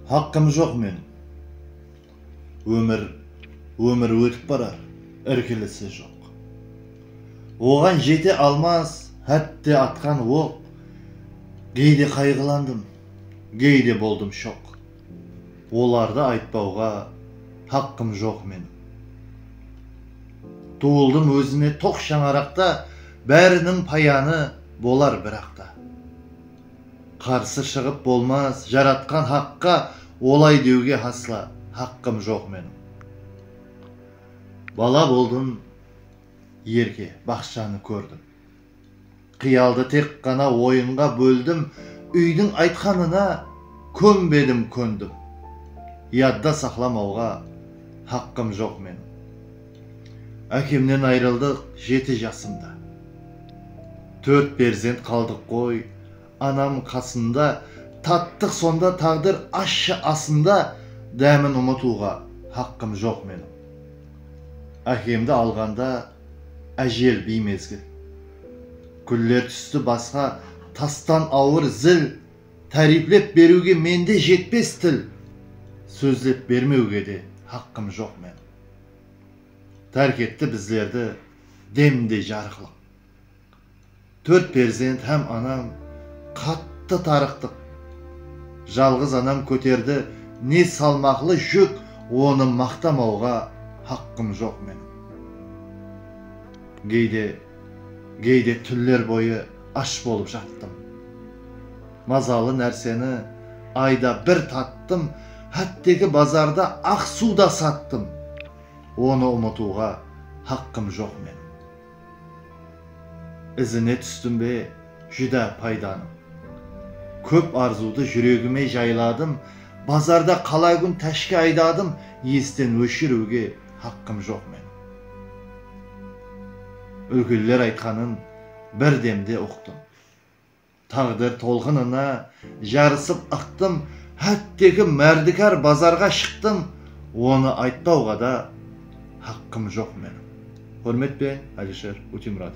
Haqqım joq meniń. Ómir, ómir ótip barar, irkilisi joq. Oǵan jete almas hátte atqan oq, geyde qayǵılandım, geyde boldım shoq. Olardı aytpawǵa haqqım joq meniń. Tuwıldım ózime toq shańaraqta, báriniń payanı bolar biraqta. Qarsı shıǵıp bolmas Jaratqan Haqqa Olay deuge hasla haqqım joq meniń Bala boldım erke baqshanı kórdim Qıyaldı tek ǵana oyınǵa bóldim Úydiń aytqanına kónbedim kóndim Yadda saqlamauǵa haqqım joq meniń. Ákemnen ayrıldıq jeti jasımda. Tórt perzent qaldıq ǵoy anam qasında, Tattıq sonda táǵdir ashshı asında, Dámin umıtıwǵa haqqım joq meniń. Ákemdi alǵanda ájel biymezgil, Gúller tústi basqa tastan awır zil, Táriyplep beriwge mende jetpes til, Sózlep bermewge de haqqım joq meniń. tárk etti bizlerdi demindey jarıqlıq Tórt perzent hám anam qattı tarıqtıq Jalǵız anam kóterdi ne salmaqlı júk Onı maqtamawǵa haqqım joq meniń Geyde Geyde túnler boyı ash bolıp jattım. Mazalı nárseni ayda bir tattım, hátteki bazarda aq suw da sattım. Onı umıtıwǵa haqqım joq meniń. Izine tústim be júdá paydanıń. Kóp arzıwdı júregime jayladım, bazarda qala kún táshke aydadım, esten óshiriwge haqqım joq meniń. Úlkenler aytqanın bir demde uqtım. Táǵdir tolqınına jarısıp ıqtım, hátteki márdikar bazarǵa shıqtım, onı aytpawǵa da haqqım joq meniń. Húrmet pe, Alisher Utemuratov?